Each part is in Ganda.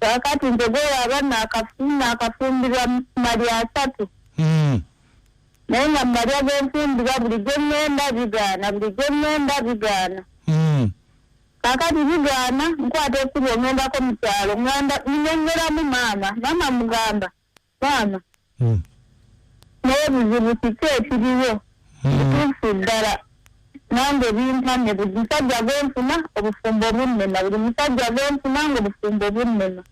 kakati nze gwewaba nakafumbirwa mali asatu hmm. naye nga mumali agenfumbirwa buli gweŋŋenda bigaana buli gweŋŋenda bigaana hmm. kakati bigaana nkwata ekkubo ŋŋendako mu kyalo ŋŋenda ŋŋongeramu maama maama mugamba baana hmm. naye buzibu kiki ekiriwo kituufu hmm. ddala nange bimpamye buli musajja gwenfuna obufumbo bunnema buli musajja gwenfuna nga obufumbo bunnema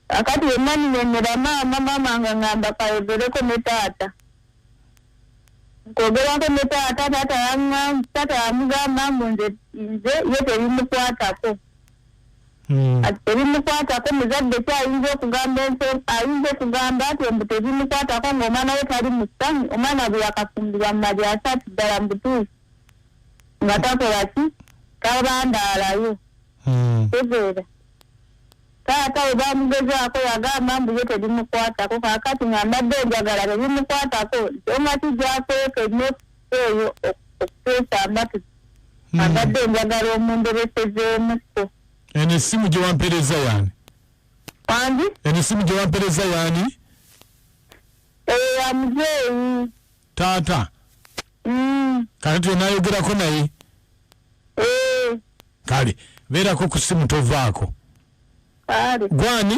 akati yenna ninyonyera maama maama nga ngamba kayogereko ne taata kwogerako ne taata taata yamugamba mbu nze nze ye tebimukwatako Hmm. kati tebimukwatako muzadde ki ayinza okugamba ent ayinza okugamba nti mbu tebimukwatako ngaomwana we tali musami omwana bwe yakafumbirwa mu mali asatu ddala mubutuusi nga takola ki tabandaalayo hmm. tegeera taata we bamugezaako yagamba mbu ye tebimukwatako kakati nga mbadde enjagala tebimukwatako omati gyakweke eyo okuteesa amatu hmm. abadde enjagala omunderesezeemuko eno essimu gye wampeereza yaani andi eno essimu gye wampeereza yaani eyo ya muzeeyi taata hmm. kati twenayogerako naye eh. kale beerako ku ssimu tovaako gwani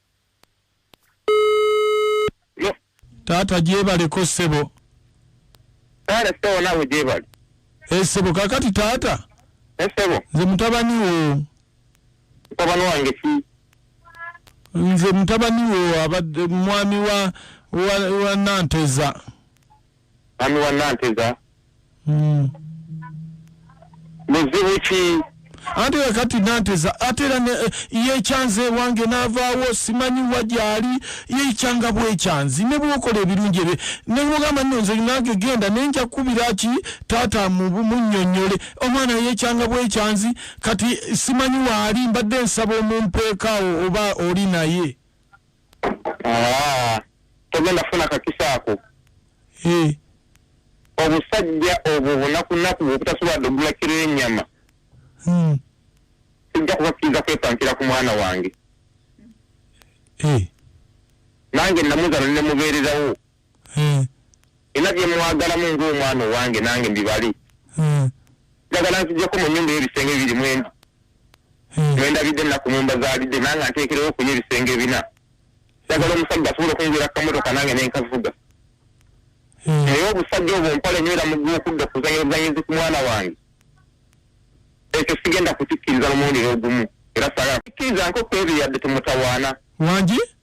taata gyebaleko ssebo taata ssebo nawe gyebali esebo eh, kakati taata esebo eh, nze mutabani wo mutabani wange ki nze mutabani wo abadde mwami wa wa, wa nanteza mwami wa nanteza Mm. muzibu ki ate era kati nanteza ate era ne- eh, yekyanza ewange n'avaawo simanyi wa gyali yekyanga bwekyanzi ne bwokola ebirungi ebye ne bwogamba nno nze nange genda ne nja kukubira ki taata mu- munnyonnyole omwana yekyanga bwekyanzi kati simanyi waali mbadde nsaba omumpeekaawo oba oli naye Ah, togenda funa kakisa ako eh. obusajja obwo bunakunaku bwobutasobola dogula kiro enyama hmm. sijja kubakkiriza kwepankira ku mwana wange eh. nange namuzala nemubeererawo eh. ina byemwagalamu ngaomwana owange nange mbibali eh. njagala nzijeko mu nyumba ebisenge biri mwendi eh. mwendabidde naku mumba zalidde nange nteekerewo okunya ebisenge bina njagala omusajja asobola okungwira kukamotoka nange nenkavuga naye obusajja obwo nkola enyo era mugwa okudda okuzanyazanyizi ku mwana wange ekyo sigenda kukikkiriza lumuwulire ogumu era sagala kukkiriza nko kwebiyadde tumutawaana wangi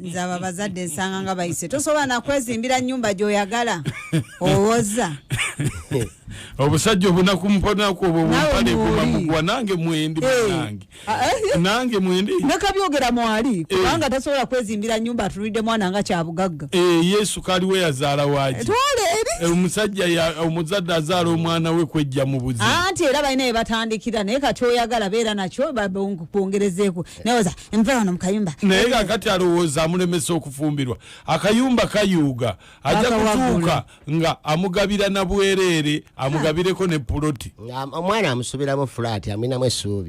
nze abo abazadde nsanga nga bayise tosobola nakwezimbira nyumba gyoyagala owoza obusajja obunaku mponaku obwo bumpalekumamukuwa nange mwendi eh. banange ah, eh. nange mwendi nekabyogera mwali eh. kubanga tasobola kwezimbira nyumba atulidde mwana nga kyabugagga yesu kaliwe yazaala waki omusajja omuzadde azaala omwana we kwejja mu buzi anti era balina ebatandikira naye kati oyagala beera nakyo kwongerezeeko nawoza nva wano mukayumba naye nga kati alowooza amulemesa okufumbirwa akayumba kayuuga ajja kutuuka nga amugabira na bwereere amugabireko ne puloti omwana amusubiramu fulaati amwinamu esuubi